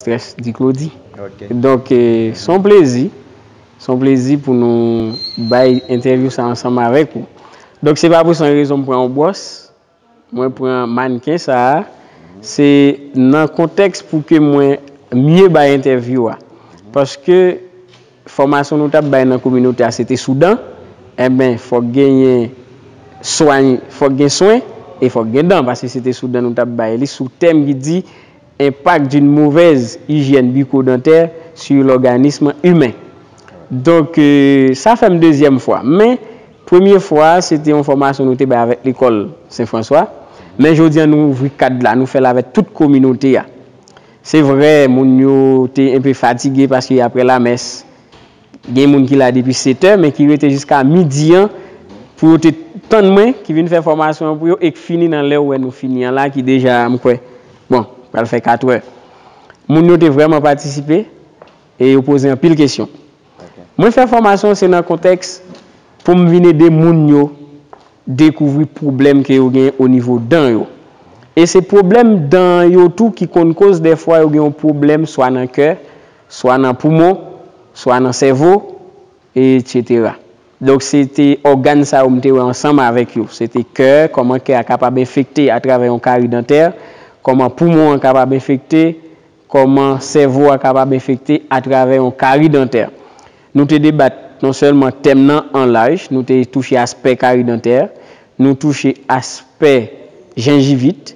Stress di Claudy. Donk se yon plezi, se yon plezi pou nou bay entèvyou sa ansanm avèk ou. Donk se pa pou san rezon m pran yon bwòs, mwen pran mannken sa a, se nan kontèks pou ke mwen mye bay entèvyou a. Paske fòmasyon nou t ap bay nan kominote a se te sou dan, enben fòk genyen swany, fòk gen swen e fòk gen dan paske se te sou dan nou t ap bay li sou tèm ki di. Impact d'une mauvaise hygiène bucco-dentaire sur l'organisme humain. Donk, sa fè m dezyèm fwa. Men, premye fwa a, se te yon fòmasyon nou te bay avèk lekòl Sen Franswa. Men jodi an, nou ouvri kad la, nou fè l avèk tout kominote a. Se vre, moun yo te enpe fatige paske apre lamès. Gen moun ki la depi setè men ki rete jiska midi an pou yo te tann mwen ki vin fè fòmasyon an pou yo e k fini nan lè ou wè nou fini an la ki deja m kwè bon pral fè katrè. Moun yo te vrèman patisipe e yo poze anpil kesyon. Mwen fè fòmasyon se nan kontèks pou m vin ede moun yo dekouvri pwoblèm ke yo gen onivo dan yo. E se pwoblèm dan yo tou ki konn koz dèfwa yo gen yon pwoblèm swa nan kè, Swa nan poumon, swa nan sèvo, etsetera. Donk se te ògàn sa yo m te wè ansanm avèk yo. Se te kè, kòman kè a kapab enfekte atravè yon kari dantè, kòman poumon an kapab enfekte, kòman sèvo a kapab enfekte atravè yon kari dantè. Nou te debat non sèlman tèm nan an laj, nou te touche aspè kari dantè, nou touche aspè jengivit,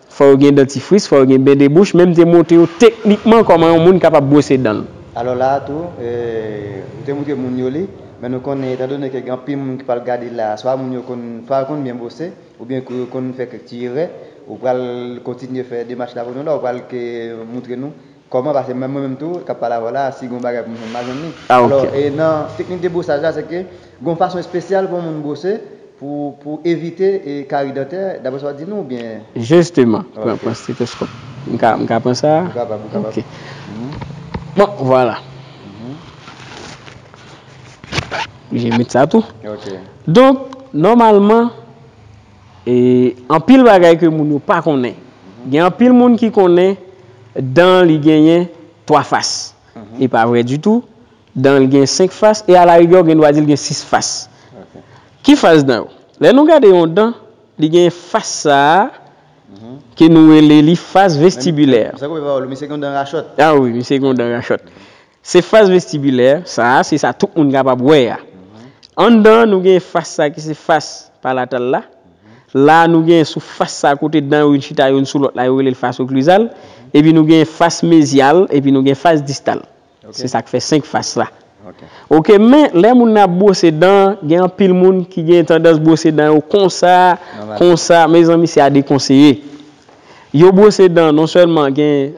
Fò yo gen dantifris, fò yo gen ben de bouch, men m te montre yo teknikman kòman yon moun kapab bwose dan l. Alò la a tou, m te montre moun yo li, men nou konnen etandone ke gen anpil moun ki pral gade la a, swa moun yo konn, swa yo konn byen bwose, oubyen kou yo konn fè kèk ti erè, ou pral kontinye fè demach la pou nou la, ou pral ke montre nou. Kòman pase menm mwen menm tou kap pale avèw la si gon bagay poum jwenn ma jwenn li alò e nan teknik de brosaj la se ke gon fason espesyal pou yon moun brose pou pou evite kari dantè daprè sa wap di nou oubyen. Jisteman pran steteskòp m ka pran sa ou kapab ou kapab bon vwala oblije met sa tou donk nòmalman. E anpil bagay ke moun yo pa konnen. Gen anpil moun ki konnen dan li genyen 3 fas. E pa vre ditou. Dan li gen 5 fas. E a la rigè ou gen dwa di li gen 6 fas. Ki fas dan yo? Lè nou gade yon dan, li gen fas sa a ke nou rele li fas vestibilè. Misye gen yon dan rachòt. A wi, misye gen yon dan rachòt. Se fas vestibulè, sa a se sa tout moun kapab wè a. Anndan an nou gen fas sa ki se fas palatal la. La a nou gen sou fas sa kote dan yo vin chita youn sou lòt la yo rele l fas oklizal. Epi nou gen fas mezyal epi nou gen fas distal. Se sa k fè senk fas la. Ok men lè moun nan ap bwose dan an gen anpil moun ki gen tandans bwose dan yo konsa, konsa mezanmi se a dekonseye. Yo bwose dan non sèlman gen.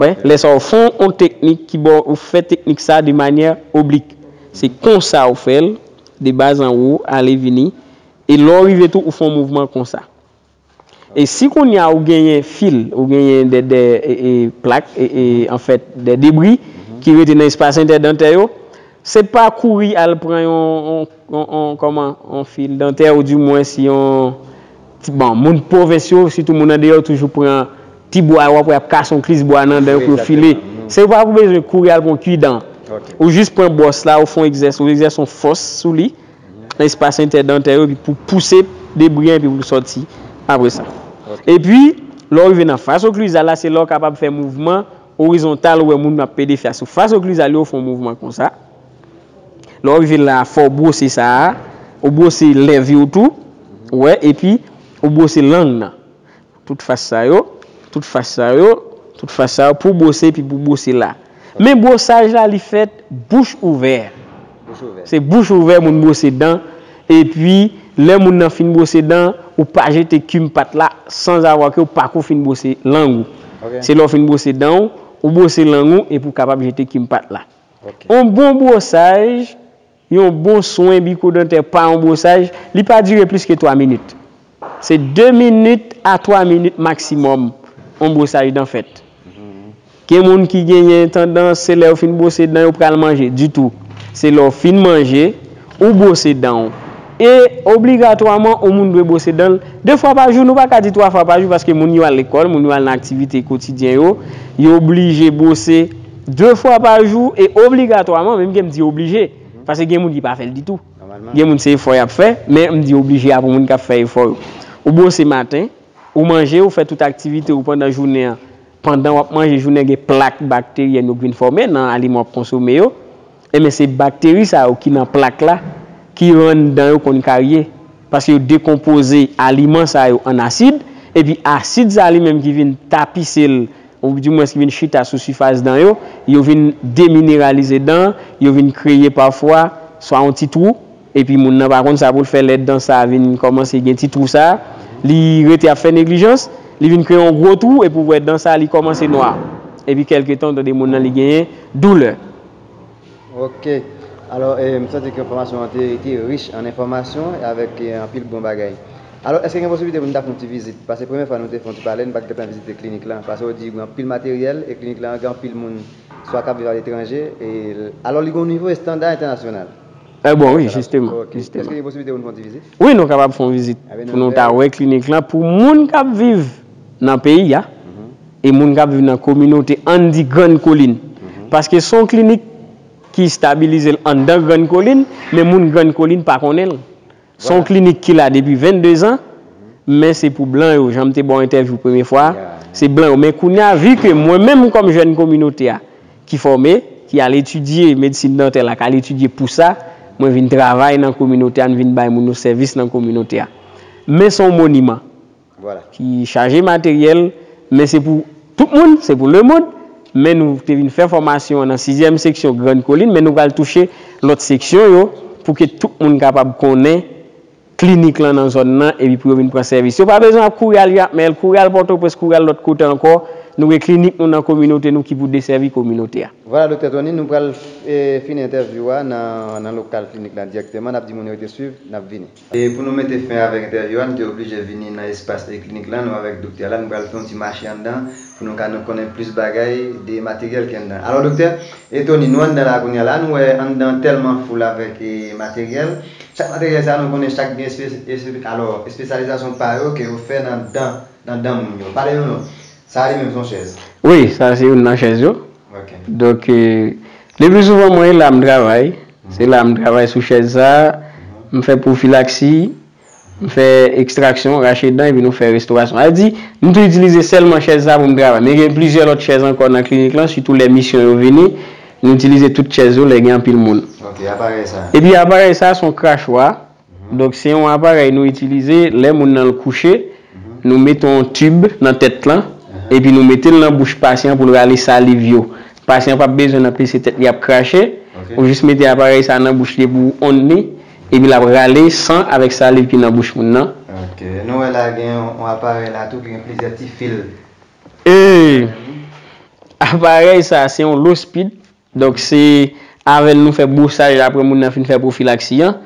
Wè, lè sa ou fon yon teknik ki ba w, ou fè teknik sa de manyè oblik. Se konsa ou fè l, de baz an wo, ale vini. E lè ou rive tou ou fon mouvman konsa. E si kounye a ou genyen fil, ou genyen de de plak, an fèt de debri ki rete nan espas entèdantè yo, se pa kouri al pran yon, yon, yon, yon kòman, yon fil dantè ou di mwens yon. Bon, moun pwovens yo, sitou moun andeyò, toujou pran ti bwa yo, w ap wè y ap kase yon klis bwa nan dan yo pou yo file. Se ou pa pou bezwen kouri al pran yon kwi dan. Ou jis pran bwòs la, ou fè yon egzèse, ou egzèse yon fòs sou li, nan espas entèdantè yo, epi pou w pouse debri an epi pou l sòti apre sa. Epi, lè w rive nan fas oklizal la, se la w kapab fè mouvman orizontal, ou wè moun ap pede fè a sou fas oklizal yo, ou fè yon mouvman konsa. Lè wap rive la a fò w bwose sa a, ou bwose lèv yo tou, ou wè, epi ou bwose lang nan. Tout fas sa yo, tout fas sa yo, tout fas sa yo pou w bwose epi pou w bwose la. Men bwosaj la li fèt bouch ouvè. Se bouch ouvè moun bwose dan, epi lè moun nan fin bwose dan, ou pa jete kim pat la sanzavwa ke ou pako fin bwose lang ou. Se lè w fin bwose dan ou, ou bwose lang ou epi ou kapab jete kim pat la. Yon bon bwosaj, yon bon swen biko-dantè pa yon bwosaj, li pa dire plis ke 3 minit. Se 2 minit a 3 minit maksimòm yon bwosaj dan fèt. Gen moun ki genyen tandans se lè yo fin bwose dan yo pral manje. Ditou. Se lè w fin manje. Ou bwose dan ou. E, obligatwaman, on moun dwe bwose dan l, de fwa pa jou, nou pa ka di twa fwa pa jou, paske moun yo al lekòl, moun yo al nan aktivite kotidyen yo, yo oblije bwose de fwa pa jou, e obligatwaman, menm ke m di oblije, paske gen moun ki pa fè l ditou. Gen moun se efò y ap fè, men m di oblije a pou moun k ap fè efò yo. Ou bwose maten, ou manje, ou fè tout aktivite ou pandan jounen an, pandan w ap manje, jounen an gen plak bakteryèn yo k vin fòme nan aliman w ap konsome yo, Enben se bakteri sa yo ki nan plak la ki rann dan yo konn karye, paske yo dekonpoze aliman sa yo an asid, epi asid sa li menm ki vin tapise l, ou di mwens ki vin chita sou sifas dan yo, yo vin demineralize dan, yo vin kreye pafwa swa yon ti twou, Epi moun nan pa konn sa pou l fè lè dan sa vin kòmanse gen ti twou sa, li rete ap fè neglijans, li vin kreye yon gwo twou epi w wè dan sa li kòmanse nwa. Epi kèlke tan ou tande moun nan li genyen doulè. Ok, alò m santi ke fòmasyon an te te rich an enfòmasyon e avèk anpil bon bagay. Alò èske gen posiblite pou nou ta fè yon ti vizit? Pase premyè fwa nou te fè yon ti pale, nou pa t gen tan vizite klinik lan. Pase ou di gen anpil materyèl e klinik lan gen anpil moun swa k ap viv aletranje e alò li gen yon nivo estanda entènasyonal. Eeh bon wi jisteman jisteman. Eske gen posiblite pou nou fè yon ti vizit? Wi nou kapab fè yon vizit pou nou ta wè klinik lan pou moun kap viv nan peyi a e moun kap viv nan kominote ann di grann kolin paske son klinik ki stabilizel anndan grann kolin men moun grann kolin pa konnenl Se yon klinik ki la depi 22 zan, men se pou blan yo, jan m te ba w entèvyou premye fwa a, se blan yo. Men kounye a, vi ke mwen menm kòm jèn kominote a, ki fòme, ki al etidye medsin dantè la, ki al etidye pou sa, mwen vin travay nan kominote a, m vin bay moun yo sèvis nan kominote a. Men se yon moniman. ki chaje materyèl, men se pou tout moun, se pou lemond, men nou te vin fè fòmasyon an nan sizyèm seksyon Grann Kolin, men nou pral touche lòt seksyon yo pou ke tout moun kapab konnen klinik lan nan zòn nan epi pou yo vin pran sèvis. Yo pa bezwen ap kouri al Jakmèl, kouri al Pòtoprens, kouri al lòt kote ankò, nou gen klinik nou nan kominote nou ki pou desèvi kominote a. Vwala Doktè Tony, nou pral fini entèvyou a nan lokal klinik lan dirèkteman, n ap di moun yo rete swiv, n ap vini. E pou nou mete fen avèk entèvyou a, nou te oblije vini nan espas Eklinik lan, nou avèk doktè la, nou pral fè yon ti mache anndan pou nou ka nou konnen plis bagay de materyèl ki anndan. Alò doktè, e Tony, nou anndan la kounye a, la nou wè anndan an tèlman foul avèk e materyèl, chak materyèl sa a nou konnen chak gen espe, alò, espesyalizasyon pa yo ke yo fè nan dan, nan dan moun yo. Pale nou nou, sa a li menm son chèz. Wi, sa a se youn nan chèz yo, Donk, le pli souvan mwen la m travay, se la m travay sou chèz sa, m fè pwofilaksi, m fè ekstraksyon, rache dan epi nou fè restorasyon. Sa vle di, m tou itilize sèlman chèz sa pou m travay. Men gen plizyè lòt chèz ankò nan klinik lan, sitou lè misyon yo vini, nou itilize tout chèz yo lè gen anpil moun. Epi aparèy sa, s on krachwa. Donk se yon aparèy nou itilize lè moun nan kouche, nou mete yon tib nan tèt lan, epi nou mete l nan bouch pasyan pou l rale saliv yo. Pasyan pap bezwen nan pese tèt li ap krache, ou jis mete aparèy sa nan bouch li epi ou onn li, epi l ap rale san avèk saliv ki nan bouch moun nan. Ok, nou wè la gen yon aparèy la tou ki gen plizyè ti fil. Ee! Aparèy sa se yon lospid, Donk se avè l nou fè bwosaj la aprè moun nan fin fè pwofilaksi an.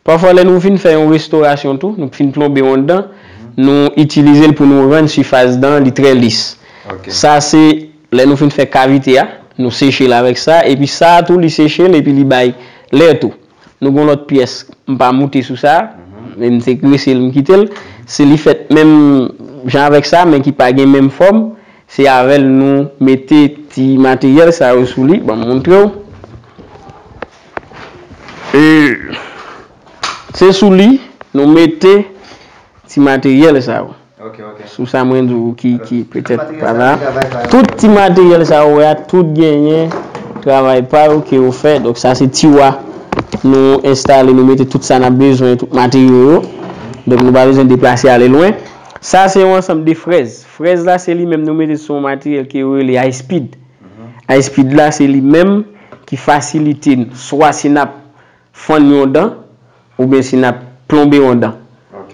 Pafwa lè nou fin fè yon restorasyon tou, nou fin plonbe yon dan, nou itilize l pou nou rann sifas dan an li trè lis. Sa se lè nou fin fè kavite a, nou seche l avèk sa epi sa a tou li seche l epi li bay lè tou. Nou gon lòt pyès m pa moute sou sa, men m te grese l m kite l. Se li fèt menm jan avèk sa men ki pa gen menm fòm, se avè l nou mete ti materyèl sa yo sou li, ban m montre w. Se sou li nou mete ti materyèl sa yo. Sou sa mwen di w ki petèt pa la. Tout ti materyèl sa ou wè a, tout genyen travay pa yo ke yo fè. Donk sa se tiwa nou enstale, nou mete tout sa n ap bezwen, tout materyo yo. Donk nou pa bezwen deplase ale lwen. Sa se yon ansanm de frèz. Frèz la se li menm nou mete sou yon materyèl ke yo rele high speed. High speed la se li menm ki fasilite n swa si n ap. Fann yon dan, oubyen si n ap plonbe yon dan.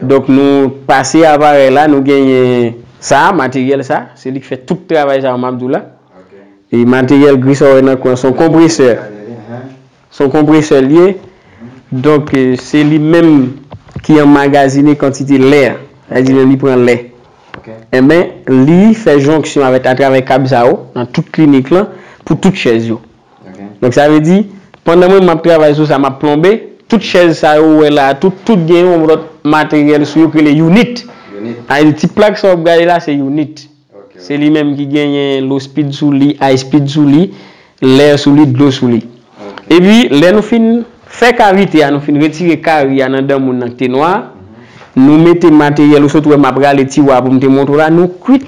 Donk nou pase aparèy la, nou genyen sa a, materyèl sa a, se li k fè tout travay sa yo m ap di w la. E materyèl gris sa w wè nan kou an, se yon konpresè. Se yon konpresè li ye. Donk se li menm ki anmagazine kantite lè a. Sa vle di lè li pran lè. Enben, li fè jonksyon avèk atravè kab sa yo nan tout klinik lan pou tout chèz yo. Donk sa vle di, pandan mwen menm m ap travay sou sa m ap plonbe, tout chèz sa yo ou wè la a tout, tout gen yon lòt materyèl sou yo ki rele younit. Sa vle di ti plak sa w ap gade la se younit. Se li menm ki genyen low speed sou li, high speed sou li, lè sou li, dlo sou li. Epi lè nou fin fè kavite a, nou fin retire kari a nan dan moun nan ki te nwa a, nou mete materyèl ou sot wè m ap rale tiwa a pou m te montre w la, nou kwit.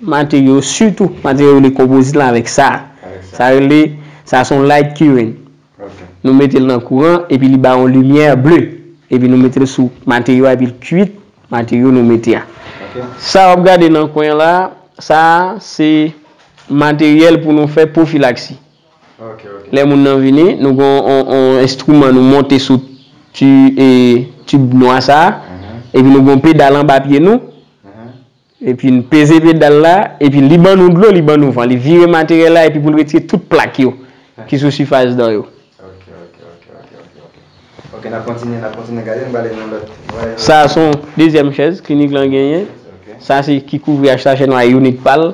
Materyo sitou materyo rele konpozit lan avèk sa sa rele sa son light curing nou metel nan kouran epi li bay yon limyè ble epi nou metel sou materyo a epil kuit materyo nou mete a sa wap gade nan kwen la sa se materyèl pou nou fè pwofilaksi lè moun nan vini nou gen yon enstriman nou monte sou tib nwa sa epi nou gen yon pedal anba pye nou. Epi n peze pedal la, epi li ban nou dlo, li ban nou van. Li vire materyèl la epi pou l retire tout plak yo ki sou sifas dan yo. Sa a se yon dezyèm chèz klinik lan genyen. Sa se ki kouvri HCH nou a iyonik pa l.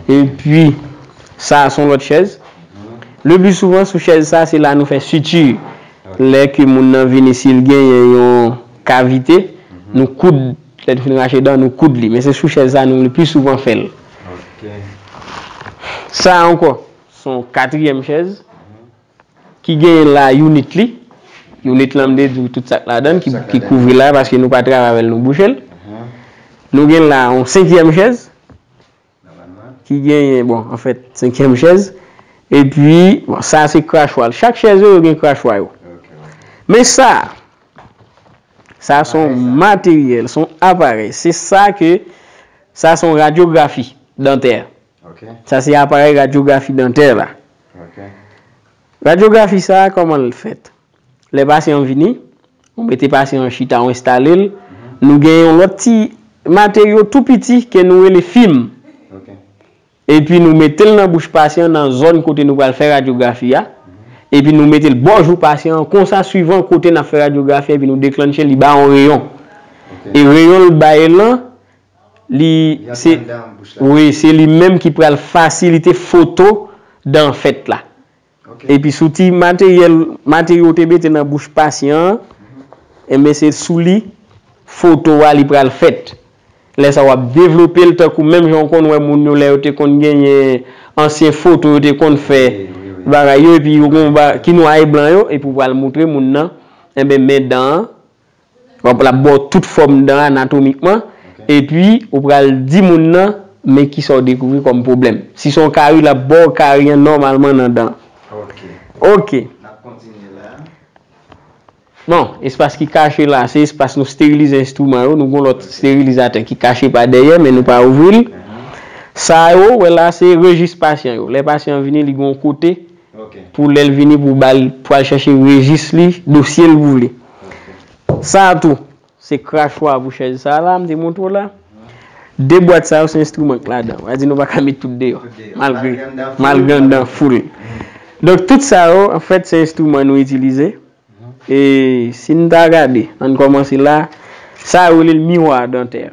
Epi sa a se yon lòt chèz. Le pli souvan sou chèz sa a se la nou fè siti. Lè ke moun nan vini si l genyen yon. Kavite, nou koud, lè nou fin rache dan, nou koud li. Men se sou chèz sa nou le pi souvan fè l. Sa a ankò, se yon katriyèm chèz ki genyen la younit li. Younit lan vle di tout sa k ladan l, ki kouvri l la, paske nou pa travay avè l, nou bouche l. Nou gen la yon senkyèm chèz. ki genyen bon anfèt senkyèm chèz epi bon sa se krachwa l chak chèz yo yo gen krachwa yo men sa sa se yon materyèl se yon aparèy se sa ke sa se yon radyografi dantè sa se aparèy radyografi dantè la radyografi sa kòman l fèt. Lè pasyan an vini, ou mete pasyan an chita, ou enstale l, nou gen yon lòt ti materyo tou piti ke nou rele fim. Epi nou mete l nan bouch pasyan an nan zòn kote nou pral fè radyografi a, epi nou mete l bò jou pasyan an, konsa swivan kote n ap fè radyografi a epi nou deklannche l, li bay yon reyon. E reyon l bay lan, li se, wi, se li menm ki pral fasilite foto dan an fèt la. Epi sou ti materyèl, materyo ou te mete nan bouch pasyan an, enben se sou li foto a li pral fèt. Lè sa w ap devlope l tankou menm jan ou konn wè moun yo lè yo te konn genyen ansyen foto yo te konn fè bagay yo epi yo gen yon ba ki nwa e blan yo epi ou pral moutre moun nan enben men dan an L ap ba w tout fòm dan anatomikman, epi ou pral di moun nan men ki sa w dekouvri kòm pwoblèm. Si se yon kari, l ap ba w kari an nòmalman nan dan an. Ok. Bon, espas ki kache la, se espas nou sterilize enstriman yo. Nou gen yon lòt sterilizatè ki kache pa dèyè, men nou pa ouvri l. Sa yo ou wè la, se rejis pasyan yo. Lè pasyan an vini, li gen yon kote pou lè l vini pou ba l, pou al chèche rejis li, dosye l pou li. Sa a tou, se krachwa pou chèz sa a la m te montre w la. De bwat sa yo se enstriman k ladan. Mwen di nou pa ka met tout deyò, malgre malgre anndan full. Donk tout sa yo anfèt se enstriman nou itilize. E si n ta gade, ann kòmanse la, sa yo rele l miwa dantè.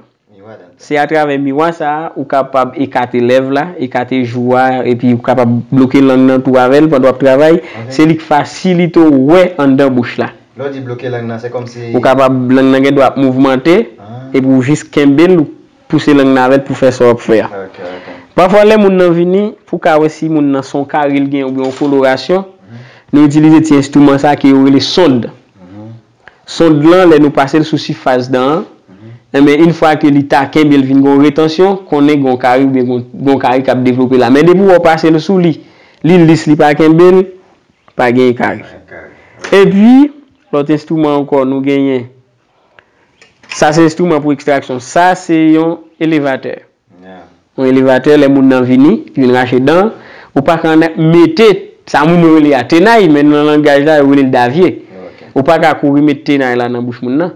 Se atravè miwa sa a ou kapab ekate lèv la, ekate jou a epi ou kapab bloke lang nan tou avè l pandan w ap travay. Se li k fasilite w wè anndan bouch la. Ou kapab lang nan gen dwa ap mouvmante epi ou jis kenbe l ou pouse lang nan avè l pou w fè sa w ap fè a. Pafwa lè moun nan vini pou w ka wè si moun nan son kari l gen oubyen yon kolorasyon, nou itilize ti enstriman sa a ke yo rele sond. Sond lan lè nou pasel sou sifas dan an, enben yn fwa ke li ta kenbel vin gon retansyon, konnen gon kari oubyen gon gon kari kap devlope la. Men depi wè w pasel sou li, li lis li pa kenbel, pa gen kari. Epi lòt enstriman ankò nou genyen, sa se enstriman pou ekstraksyon, sa se yon elevatè. Yon elevatè lè moun nan vini, li vin rache dan, ou pa ka mete sa moun yo rele a tenay men nan langaj la yo rele l davye. Ou pa ka kouri met tenay la nan bouch moun nan.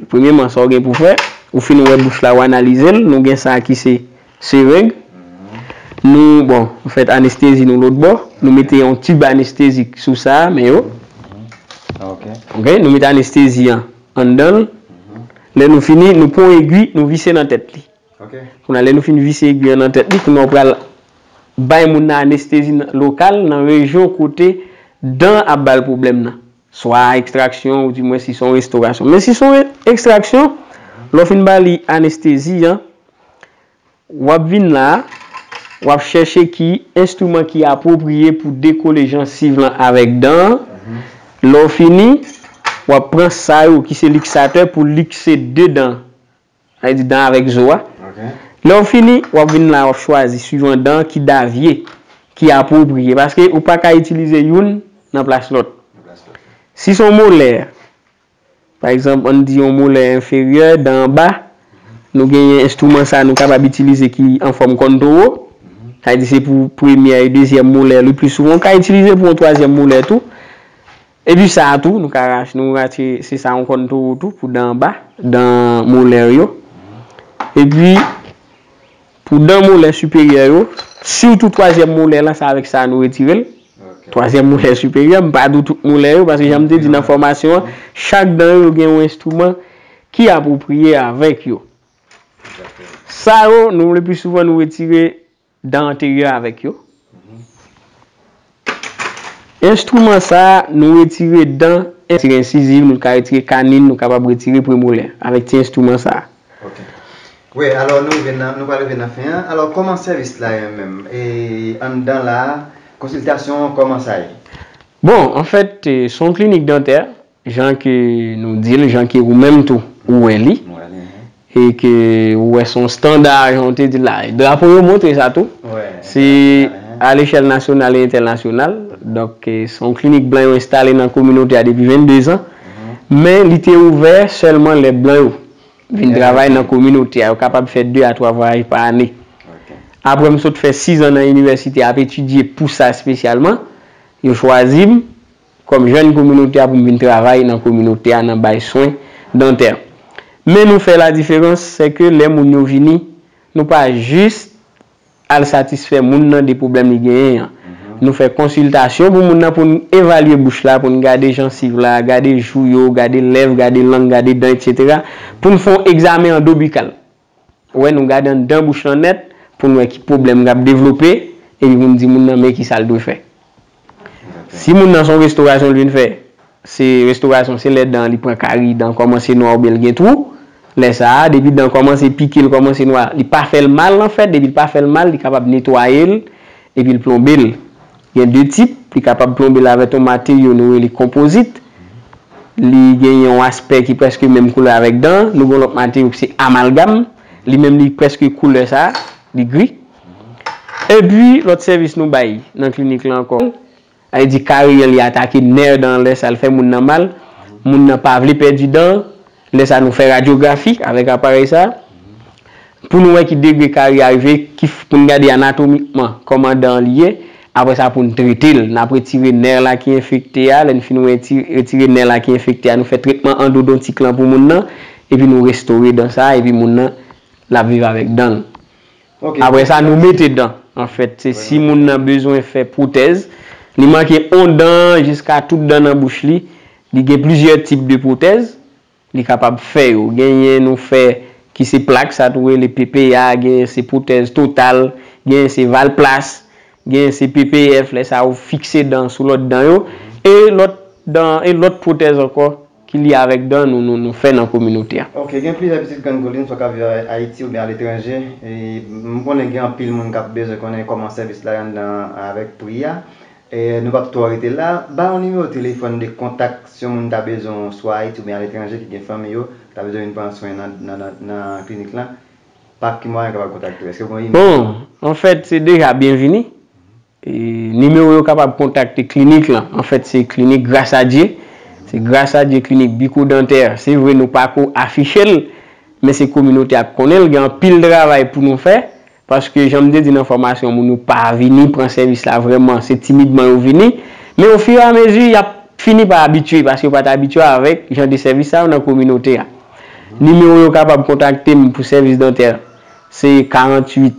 Premyeman sa w gen pou w fè, ou fin wè bouch la ou analize l, nou gen sa ki se sereng, nou bon nou fè anestezi nou lòt bò, nou mete yon tib anestezik sou sa men yo, ok, nou mete anestezi an Anndan l. Lè nou fini, nou pran yon egwi, nou vise nan tèt li. Kounye a, lè nou fin vise egwi an nan tèt li, kounye a ou pral bay moun nan anestezi lokal nan rejyon kote dan an ap ba l pwoblèm nan. Swa ekstraksyon ou di mwen si se yon restorasyon. Men si se yon ekstraksyon, lè w fin ba li anestezi an, W ap vin la a, w ap chèche ki enstriman ki apwopriye pou dekole jansiv lan avèk dan an. Lè w fini, w ap pran sa yo ki se liksatè pou likse de dan, sa vle di dan avèk zo a. Lè w fini, w ap vin la a, w ap chwazi suivan dan ki davye ki apwopriye paske ou pa ka itilize youn nan plas lòt. Si s on molè, Pa egzanp, ann di yon molè enferyè, dan anba, nou genyen enstriman sa nou kapab itilize ki an fòm kòn towo, sa vle di se pou premyè e dezyèm molè le pli souvan, ou ka itilize pou yon twazyèm molè tou. Epi sa a tou, nou ka rache, nou rache se sa yon kòn towo tou pou dan anba, dan molè yo. Epi. Pou dan molè siperyè yo, sitou twazyèm molè lan se avèk sa nou retire l. Twazyèm molè siperyè, m pa di w tout molè yo paske jan m te di nan fòmasyon an, chak dan yo gen yon enstriman ki apwopriye avèk yo. Sa yo, nou lepi souvan nou retire dan anteryè avèk yo. Enstriman sa a, nou retire dan, retire ensiziv, nou ka retire kanin, nou kapab retire premolè avèk ti enstriman sa a. Ok. Wi, alò nou rive nan, nou pral rive nan fen an. Alò kòman sèvis la ye menm? E anndan la a, konsiltasyon an kòman sa ye? Bon, anfèt, se yon klinik dantè, Jan ke nou di l, jan ke ou menm tou ou wè li, e ke ou wè se yon standa jan ou te di l la. Drapo yo montre sa tou. Se a lechèl nasyonal e entènasyonal. Donk, se yon klinik blan yo enstale nan kominote a depi 22 zan. Men, li te ouvè sèlman lè blan yo vin travay nan kominote a. Yo kapab fè 2 a 3 vwayaj pa ane. Apre m sot fè 6 zan nan inivèsite ap etidye pou sa espesyalman, yo chwazi m. kòm jèn kominote a pou m vin travay nan kominote a nan bay swen dantè. Men nou fè ladiferans, sè ke lè moun yo vini, nou pa jis al satisfè moun nan de pwoblèm li genyen an. Nou fè konsiltasyon pou moun nan pou n evalye bouch la, pou n gade jansiv la, gade jou yo, gade lèv, gade lang, gade dan, etc. Pou n fè yon egzamen andobikal. Ou wè nou gade anndan bouch lan nèt pou n wè ki pwoblèm k ap devlope epi pou n di moun nan men kisa l dwe fè. Si moun nan se yon restorasyon l vin fè, se restorasyon se lè dan li pran kari, dan kòmanse nwa oubyen l gen twou, lè sa a depi dan kòmanse pike l kòmanse nwa, li pa fè l mal anfèt depi l pa fè l mal li kapab netwaye l epi l plonbe l. Gen de tip, li kapab plonbe l avè ton materyo nou rele konpozit, li gen yon aspè ki prèske menm koulè avèk dan an, nou gen yon lòt materyo ki se amalgam, li menm li prèske koulè sa a, li gri. Epi lòt sèvis nou bay nan klinik lan ankò, sa vle di kareman li atake nè dan an lè sa l fè moun nan mal, moun nan pa vle pèdi dan an, Lè sa nou fè radyografi avèk aparèy sa pou nou wè ki degre kari a rive, pou n gade anatomikman kòman dan an li ye. Apre sa pou n trete l. N ap retire nè la ki enfekte a. Lè n fin retire nè la ki enfekte a, nou fè tretman andodontik lan pou moun nan. Epi nou restore dan sa a epi moun nan l ap viv avèk dan l. Apre sa nou mete dan. Anfèt, se si moun nan bezwen fè pwotèz, li manke on dan jiska tout dan nan bouch li, li gen plizyè tip de pwotèz, li kapab fè yo. Genyen nou fè ki se plak, sa tou rele PPA, genyen se pwotèz total, genyen se valplas, genyen se PPF, lè sa ou fikse dan sou lòt dan yo, e lòt dan, e lòt pwotèz ankò ki lye avèk dan nou nou fè nan kominote a. Ok gen plizyè pitit grann kolin swa kap viv ayiti oubyen aletranje m konnen gen anpil moun kap bezwen konnen kòman sèvis la ye anndan an avèk pri a nou pap twò rete la ba yon nimewo telefòn de kontak si yon moun ta bezwen w swa ayiti oubyen aletranje ki gen fanmi yo ki ta bezwen vin pran swen nan klinik lan pa ki mwayen yo kapab kontakte w èske gen yon imèl bon anfèt se deja byenvini Nimewo yo kapab kontakte klinik lan, anfèt se klinik Gras a Dye, se Gras a Dye Klinik Biko Dantè, se vre nou pa ko afiche l, men se kominote a k konnen l, gen anpil travay pou nou fè, paske jan m te di nan fòmasyon moun yo pa vini pran sèvis la vrèman, se timidman yo vini, men o fur et à mesure y ap fini pa abitye, paske yo pa t abitye avèk jan de sèvis sa yo nan kominote a. Nimewo yo kapab kontakte m pou sèvis dantè, se 48.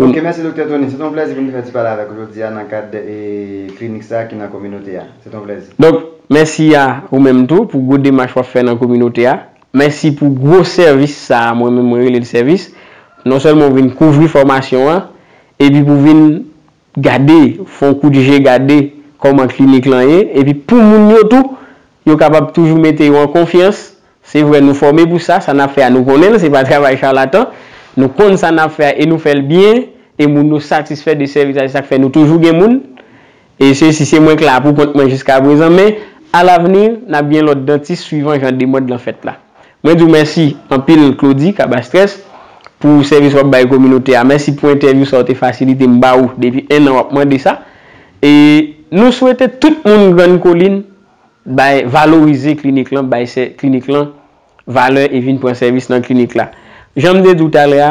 Ok mèsi Doktè Tony. Se te yon plèzi pou m te fè ti pale avèk ou jodi a nan kad klinik sa ki nan kominote a. Se te yon plèzi. Donk, mèsi a ou menm tou pou gwo demach w ap fè nan kominote a. Mèsi pou gwo sèvis sa a mwen menm mwen rele l sèvis. Non sèlman ou vin kouvri fòmasyon an, epi pou vin gade, fè yon kout je gade kòman klinik lan ye, epi pou moun yo tou, yo kapab toujou mete yo an konfyans, Se vre nou fòme pou sa, sa n ap fè a nou konnen l, se pa travay charlatan, nou konn sa n ap fè a e nou fè l byen e moun yo satisfè de sèvis la se sa k fè nou toujou gen moun e se si se mwen k la pou kont mwen jiskaprezan men a lavni n ap gen lòt dantis swivan jan demand lan fèt la. Mwen di w mèsi anpil Claudy Cabastrès pou sèvis w ap bay kominote a, mèsi pou entèvyou sa w te fasilite m ba ou depi ennan w ap mande sa e nou swete tout moun Grann Kolin Bay, valorize klinik lan, bay sè, klinik lan, valè e vin pran sèvis nan klinik la. Jan m te di w talè a,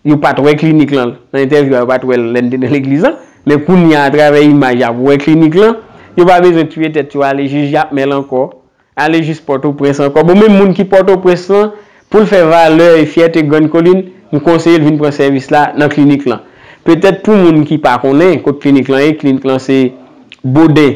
yo pa t wè klinik lan, nan entèvyou a yo pa t wè l lè n te nan legliz lan, men kounye a atravè imaj y ap wè klinik lan, yo pa bezwen tiye tèt yo ale jij Jakmèl ankò, ale jis Pòtoprens ankò. Bon menm moun ki Pòtoprens lan, pou l fè valè e fyète Grann Kolin, m konseye l vin pran sèvis la nan klinik lan. Petèt pou moun ki pa konnen kot klinik lan ye, klinik lan se Boden.